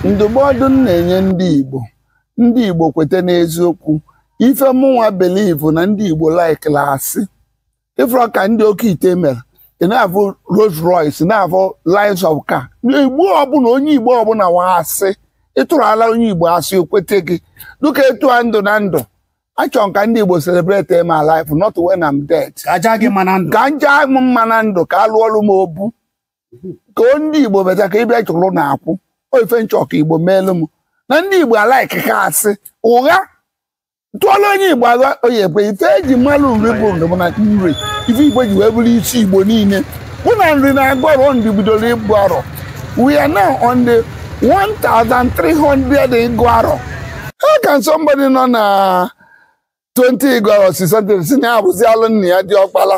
ndụmọdụ m na-enye ndị Igbo ndị Igbo kweta n'eziokwu ife mụnwa believe na ndị Igbo likela asị ịfụrọ ka ndị oke ite mere ị na-afụ Rolls Royce na-afụ lines of car igbo ọbụla onye igbo ọbụla nwa asị ịtụrụ ala onye igbo asị o kwete gị dịka etu m dụ na ndụ achọrọ m ka ndị igbo celebrate my life not when I'm dead ka a ja m mma na ndụ ka alụọrụ m obu ka o ndị igbo bata ka ịbịa chụrụ na akwụ ọ ife m chọ ka igbo meelu m na ndị igbo alike ka asị ụgha tụọla onye igbo ụgha ọ ya-ekwe ife eji malụ Nri bụ ndụ bụ na nri ife igbo ji wee bụrụ isi igbo niile bụ na nri na-agụ arọ Nri bidoro ịgụ arọ we are now on the 1300 ịgụ arọ how can somebody nọ na 20 ịgụ arọ sị something sị na ya abụzi alụ nna ya diọkpala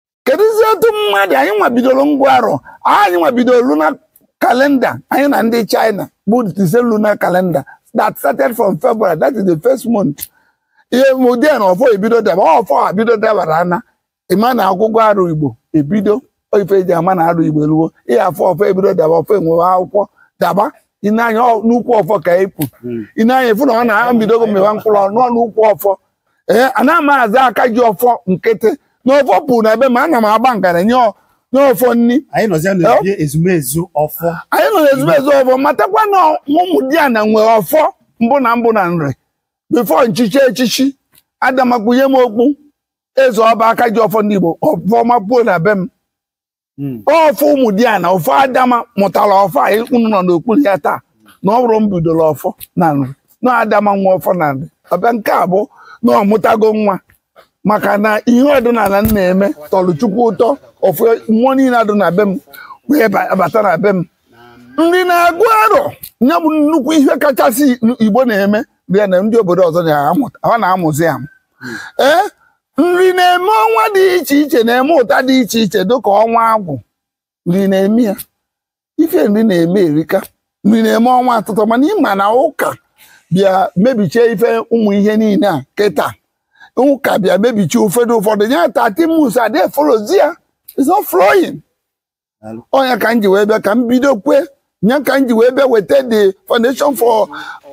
kedụzi etu mmadụ anyị nwa bidoro ịgụ arọ anyị nwa bidoro lunar calendar anyị na ndị China but it's a lunar calendar that started from February that is the first month ihe mụdị na ọfọ ebido daba ọfọ ebido dabara ana ịma na ọgụgụ arọ Igbo ebido ife eji ama na arọ Igbo ruo ihe afọ ọfọ ebido daba ọfọ enwewe akwụkwọ daba i nee anya n'ukwu ọfọ ka epu hmm. i nee anya ị fụ na ọ na-ebidogo mewa mkpụrụ ọnụ n'ukwu ọfọ ee eh, ana m aza aka ji ọfọ nkịtị na ọfọ pu na be m ana m agba ngara enye ọfọ nni anyị nọ na ezumezu ọfọ anyị nọ ezumezu ọfọ matakwa na ụmụdiana nwe ọfọ mbụ na mbụ na Nri before nchichi echichi Adama kpunye m okpu eze ọba aka ji ọfọ ndị Igbo ọfọ mapuo na be m hmm. ọfọ ụmụdiana ọfọ Adama mụtara ọfọ a unu nọ n'okpuru ya taa na ọ bụrọ m bidoro ọfọ na Nri na Adama nwe ọfọ na Nri ọ bịa nke a bụ na ọ mụtago nwa maka na ihe ọdịnala m na-eme tọrọ chukwu ụtọ ọfọ mmụọ niile adụ na be m wee bata na be m Nri na-agụ arọ ya bụ nnukwu ihe kachasị igbo na-eme bịa na ndị obodo ọzọ na-amụzi ya ee nri na-eme ọnwa dị iche iche na-eme ụta dị iche iche dịka ọnwa agwụ nri na-eme ya ife nri na-eme erika nri na-eme ọnwa asatọ mana ịma na ụka bịa mebichie ife ụmụ ihe niile a kịta ụka bịa mebichie ụfọdụ ụfọdụ ya tatimus adị efollowzi ya is not flowing ọ nya ka m ji wee bịa ka m bidokwe nya ka m ji wee bịa weta the foundation for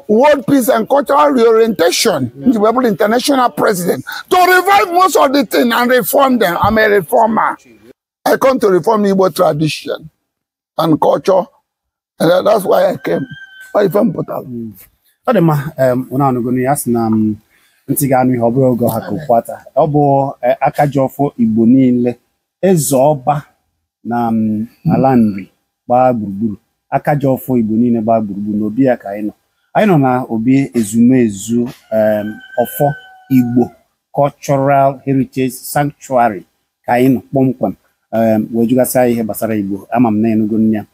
world peace and cultural reorientation m ji wee bụrụ international president to revive most of the thing and reform them i'm a reformer i come to reform igbo tradition and culture And that- that's why I came. Ọ ife m pụtara. ọ dị mma em, ụnụ anụgonu ya a sị na m, ntị ga-anụ ihe ọ bụrọ oge ọ ha ka okpu ata ọ bụ eh, aka ji ọfọ igbo niile eze ọba na m, ala nri gbaa gburugburu aka ji ọfọ igbo niile gbaa gburugburu n'obi ya ka anyị nọ anyị nọ na obi ezumezu em, ọfọ igbo cultural heritage sanctuary ka anyị nọ kpọmkwem em, wee jụgasịa ya ihe gbasara igbo ama m na ị nụgonu ya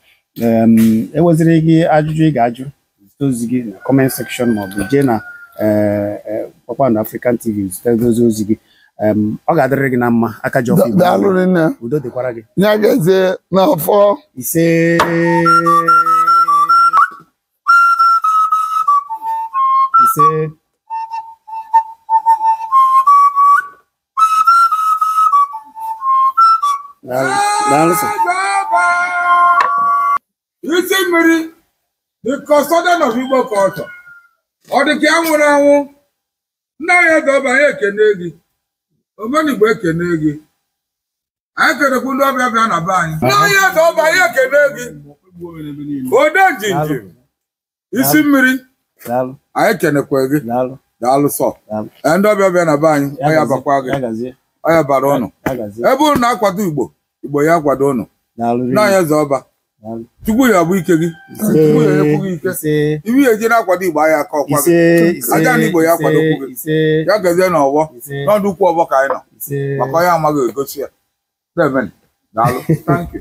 Em, i nweziri ajụjụ ị ga-ajụ zite ozi gị na comment section maọbụ jee na eh, eh, kpakpando african tv zite dozie ozi gị Em, ọ ga-adịrị gị na mma aka ji ọfọ Igbo. daalụ rinne udo dịkwara gị ya gazie n'afọ ise ise isi mmiri the custodian of Igbo culture ọ dị ka ya nwụrụ anwụ nna anyị eze ọba anyị ekene gị omenigbo ekene gị anyị kenekwu ndị ọbịa bịa na be anyị nna anyị eze ọba anyị ekene gị odenjinji isi mmiri daalụ anyị kenekwa gị daalụ daalụ sọ daalụ Ee, ndị ọbịa bịa na be anyị Ya ọ ya gazie, abakwa gị ya gazie ọ ya-abara ụnụ ya gazie ebe ụnụ na-akwado igbo igbo ya akwado ụnụ daalụ rinne. nna anyị eze ọba Daalụ. chukwu ya-abụ ike gị chukwu ya enyekwu gị ike ise ị ya-eji na-akwado igbo ahịa aka ọkwa gị ise ise Ajana Igbo ya ise, akwadokwu gị. ise ya gazie na ọgbọ ise n'ọdụ ukwu ọgbọ ka anyị nọ ise maka onye amaghị egosi ya Amen. daalụ thank you